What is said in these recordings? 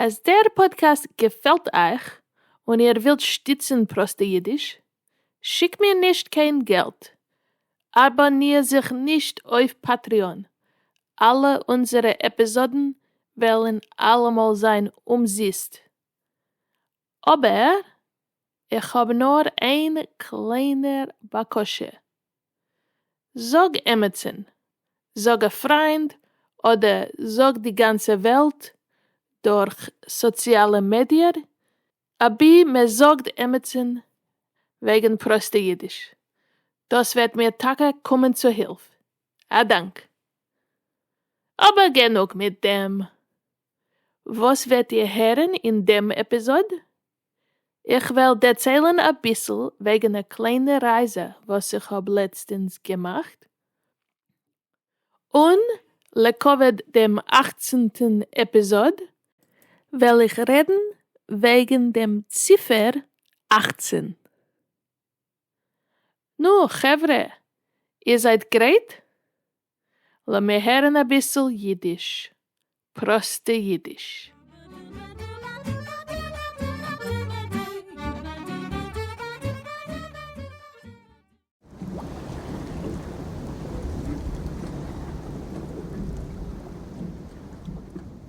אז דער פאדקעסט געפעלט אייך און איר ווילט שטיצן פראסטע אידיש, שיקט מיר נישט קיין געלט, אבאניר זיך נישט אויף פאטריאן, אלע אונזערע עפיזאדן וועלן אלעמאל זיין אומזיסט, אבער איך האב נאר איין קליינער בקשה, זאג עמיצן, זאג א פריינד אדער זאג די גאנצע וועלט דורך סאציאלע מידיער אבי מען זאגט עמיצן וועגן פראסטע אידיש, דאס וועט מיר טאקע קומען צו הילף, א דאנק. אבער גענוג מיט דעם, וואס וועט איר הערן אין דעם עפיזאד? איך וועל דערציילן אביסל וועגן א קליינע רייזע וואס איך האב לעצטענס געמאכט, און לכבוד דעם אכצנטן עפיזאד וועל איך רעדן וועגן דעם ציפער אכצן. נו, חברה, איר זייט גרייט? לאמיר הערן אביסל אידיש, פראסטע אידיש.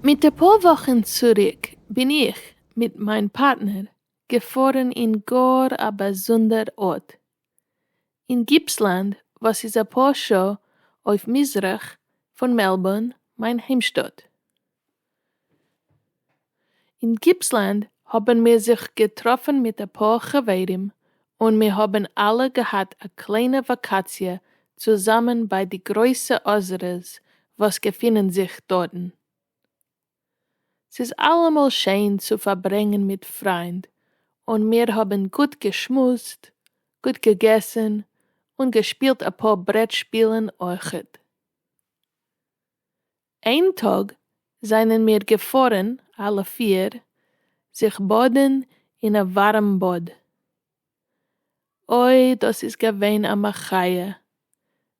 מיט אפאר וואכן צוריק בין איך מיט מיין פארטנער געפארן אין גאר א באזונדער ארט אין גיפסלענד וואס איז אפאר שעה אויף מזרח פון מעלבארן מיין היימשטאט. אין גיפסלענד האבן מיר זיך געטראפן מיט אפאר חברים און מיר האבן אלע געהאט א קליינע וואקאציע צוזאמען ביי די גרויסע אזערעס וואס געפינען זיך דארטן. ס'איז אלעמאל שיין צו פארברענגן מיט פריינד, און מיר האבן גוט געשמועסט, גוט געגעסן, און געשפילט אפאר ברעט שפילן אויכעט. איין טאג זענען מיר געפארן אלע פיר זיך באדן אין א ווארעם באד. אוי דאס איז געווען א מחיה,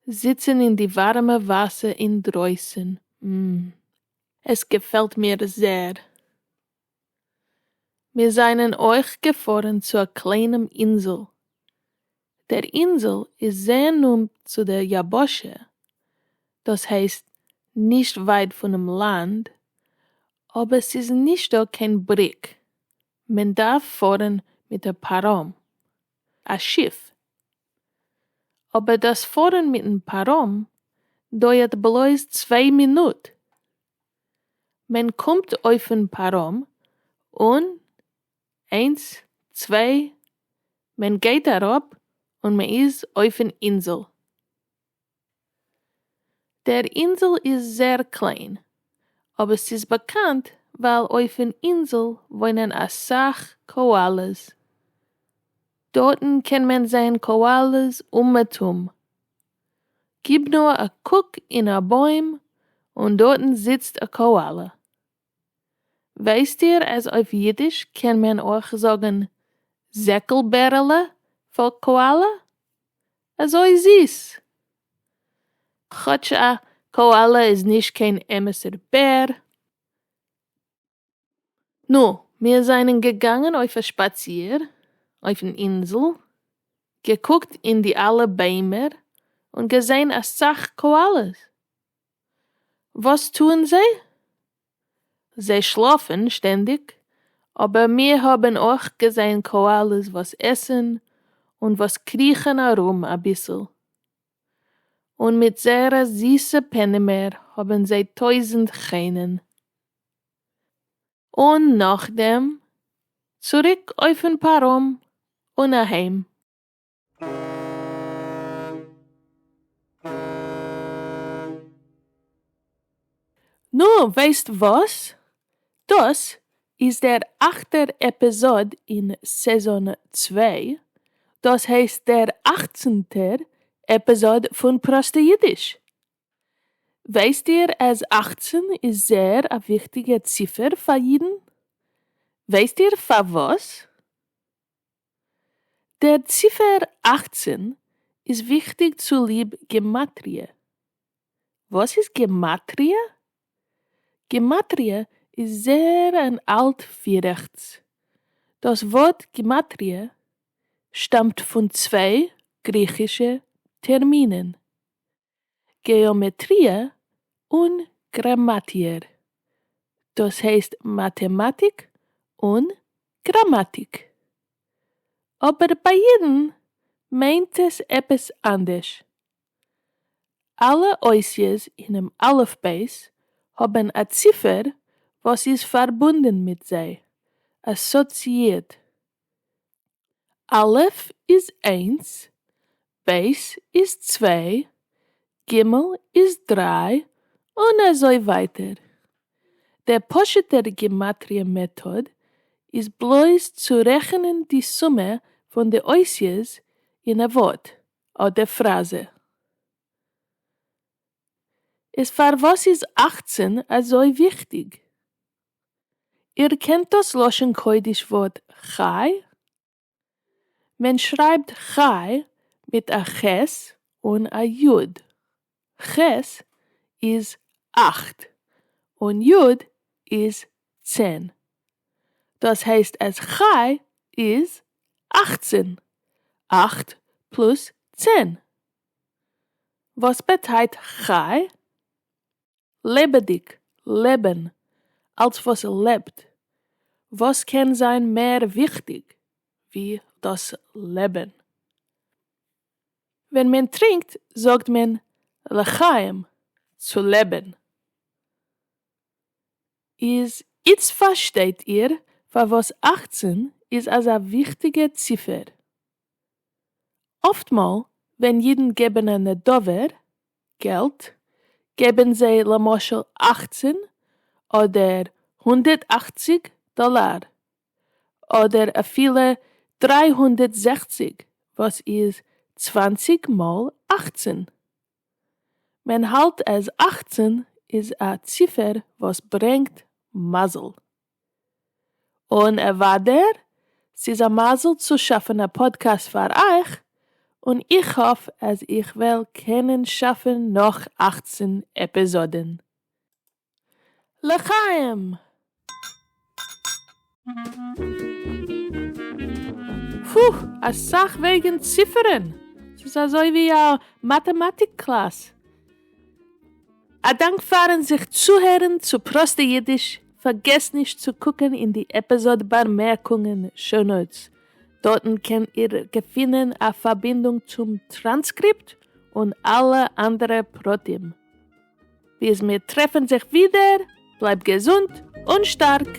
זיצן אין די ווארעמע וואסער אינדרויסן, מ. עס געפעלט מיר זעהר. מיר זענען אויך געפארן צו א קליינעם אינזל. דער אינזל איז זעהר נאנט צו דער יבשה, דאס הייסט נישט ווייט פונעם לאנד, אבער ס'איז נישט דא קיין בריק, מען דארף פארן מיט א פארום, א שיף. אבער דאס פארן מיטן פארום דויערט בלויז צוויי מינוט, מען קומט אויפן פארום און איינס צוויי מען גייט אראפ און מען איז אויפן אינזל. דער אינזל איז זעהר קליין, אבער ס'איז באקאנט ווייל אויפן אינזל וואוינען אסאך קאאלעס. דארטן קען מען זעהן קאאלעס אומעטום. גיב נאר א קוק אין א בוים און דארטן זיצט א קאאלע. ווייסט איר אז אויף אידיש קען מען אויך זאגן זעקל בערעלע פאר קאאלע? אזוי זיס! כאטש א קאאלע איז נישט קיין אמת'ער בער. נו, מיר זענען געגאנגען אויף א שפאציר אויפן אינזל, געקוקט אין די אלע ביימער און געזען אסאך קאאלעס. וואס טוען זיי? זיי שלאפן שטענדיג, אבער מיר האבן אויך געזען קאאלעס וואס עסן און וואס קריכן ארום אביסל, און מיט זייערע זיסע פענימער האבן זיי טויזנט חן'ען. און נאכדעם צוריק אויפן פארום און אהיים. נו, ווייסט וואס? דאס איז דער אכטער עפיזאד אין סעזאן צוויי, דאס הייסט דער אכצנטער עפיזאד פון פראסטע אידיש. ווייסט איר אז אכצן איז זייער א וויכטיגע ציפער פאר אידן? ווייסט איר פארוואס? דער ציפער אַכצן איז וויכטיג צוליב גמטריא. וואס איז גמטריא? גמטריא איז זעהר און אלט ווי רעכטס. דאס ווארט גמטריא שטאמט פון צוויי גריכישע טערמינען. געאמעטריע און גראמאטיער, דאס הייסט מאטעמאטיק און גראמאטיק. אבער ביי אידן מיינט עס עפעס אנדערש. אלע אותיות אינעם אלף בית האבן א ציפער וואס איז פארבונדן מיט זיי, אסאציאירט. א' איז איינס, ב' איז צוויי, ג' איז דריי, און אזוי ווייטער. דער פשוט'ער גימטריא מעטאד איז בלויז צו רעכענען די סומע פון די אותיות אין א ווארט אדער פראזע. איז פארוואס איז אַכצן אזוי וויכטיג? איר קענט דאס לשון קודש ווארט חי? מען שרייבט חי מיט א ח' און א י'. ח' איז אכט און י' איז צען. דאס הייסט אז חי איז אכצען. אכט פלוס צען. וואס באטייט חי? לעבעדיק, לעבען, אלס וואס לעבט, וואס קען זיין מער וויכטיק ווי דאס לעבען? ווען מען טרינקט זאגט מען לחיים, צו לעבען. איז איצט פארשטייט איר פארוואס אַכצן איז אזא וויכטיגע ציפער. אפטמאל ווען אידן געבן א נדבה, געלט, געבן זיי למשל אַכצן אדער הונדערט אַכציק דאלאר, אדער אפילו דרײַ הונדערט זעכציק וואס איז צוואַנציק מאל אַכצן. מען האלט אז אַכצן איז א ציפער וואס ברענגט מזל. און אוודאי ס'איז א מזל צו שאפן א פאדקעסט פאר אייך, און איך האף אז איך וועל קענען שאפן נאך אַכצן עפיזאדן. לחיים! פוה! אסאך וועגן ציפערן! ס'איז אזוי ווי א מאטעמאטיק קלאס. א דאנק פארן זיך צוהערן צו פראסטע אידיש, פארגעסט נישט צו קוקן אין די עפיזאד באמערקונגען show notes, דארטן קען איר געפינען א פארבינדונג צום טראנסקריפט און אלע אנדערע פרטים. ביז מיר טרעפן זיך ווידער, בלייב געזונט און שטארק!